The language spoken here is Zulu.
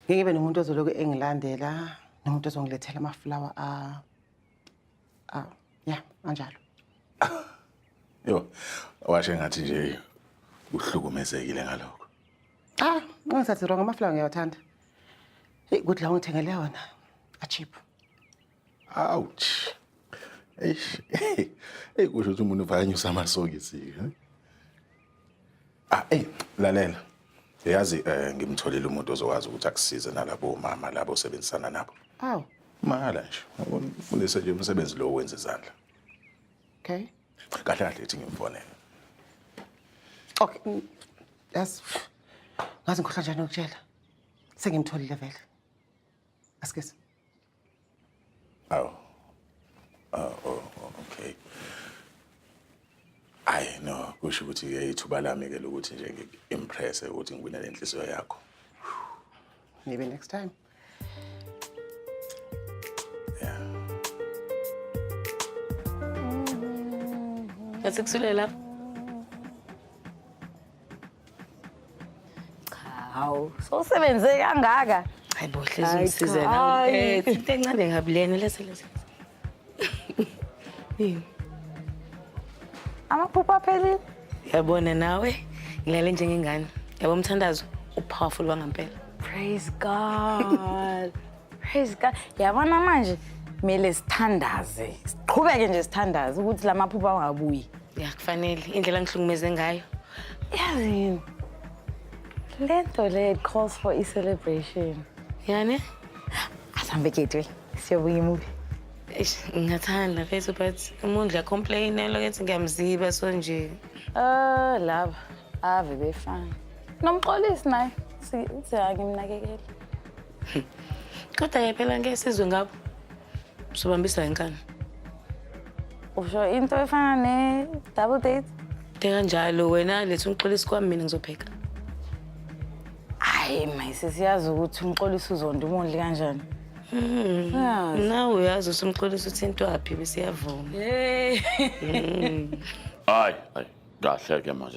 ngeke ibe nomuntu ozoloku engilandela nomuntu ozongilethela amafulawa a a ya anjalo yo washe ngathi nje uhlukumezekile ngalokho ah ngingasathi wrong amafulawa ngiyawathanda hey good la ungithengele wona a cheap Ouch. Eish. Hey kusho ukuthi umuntu vayanyusa amasokisi. eh? Ah, hey, lalela. Yazi eh ngimtholile umuntu ozokwazi ukuthi akusize nalabo mama labo osebenzisana nabo. Awu, Mahala nje. Ufundise nje umsebenzi lo wenza izandla. okay. Kahle kahle ethi ngimfonele. Okay. mm, Yazi ngazi ngikhohlwa njani ukutshela. Sengimtholile vele. Askes. Awu. Oh, oh, oh, okay. Ayi no, kusho ukuthi ke ithuba lami ke lokuthi nje ngi-impress ukuthi ngiwine le nhliziyo yakho. Maybe next time. Yeah. Yathi kusulela. Hawu, sowusebenze kangaka. Hayi bo hlezi Hayi, ngisize cha, la. hayi. Eh, into encane kabi lena lese lese. Yini? Amaphupho aphelile. Yabona nawe ngilale njengengane. Yabo mthandazo upowerful wangampela. Praise God. Praise God. Yabona manje kumele sithandaze. Siqhubeke nje sithandaze ukuthi la maphupho angabuyi. Ya kufanele indlela ngihlukumeze ngayo. Yazi yini? Le nto le it calls for a celebration. Yani? Asambe gateway. Siyobuya imubi. Eish, ngingathanda mfethu but umuntu la complain elo kethi ngiyamziba so nje. Ah, laba ave befana. Nomxolisi naye si- uthi angimnakekeli. Kodwa ke phela ngeke sizwe ngabo. Sobambisa inkani. Usho into efana ne double date? Teka njalo wena lethu ngixolisa kwami mina ngizopheka. Hayi mayisisi yazi ukuthi umxolisa uzonda umondli kanjani. Mm. Ah. Nawe uyazi usumxolisa uthintwaphi bese yavuma. Hey. Mm. Hayi, hayi. Kahle ke manje.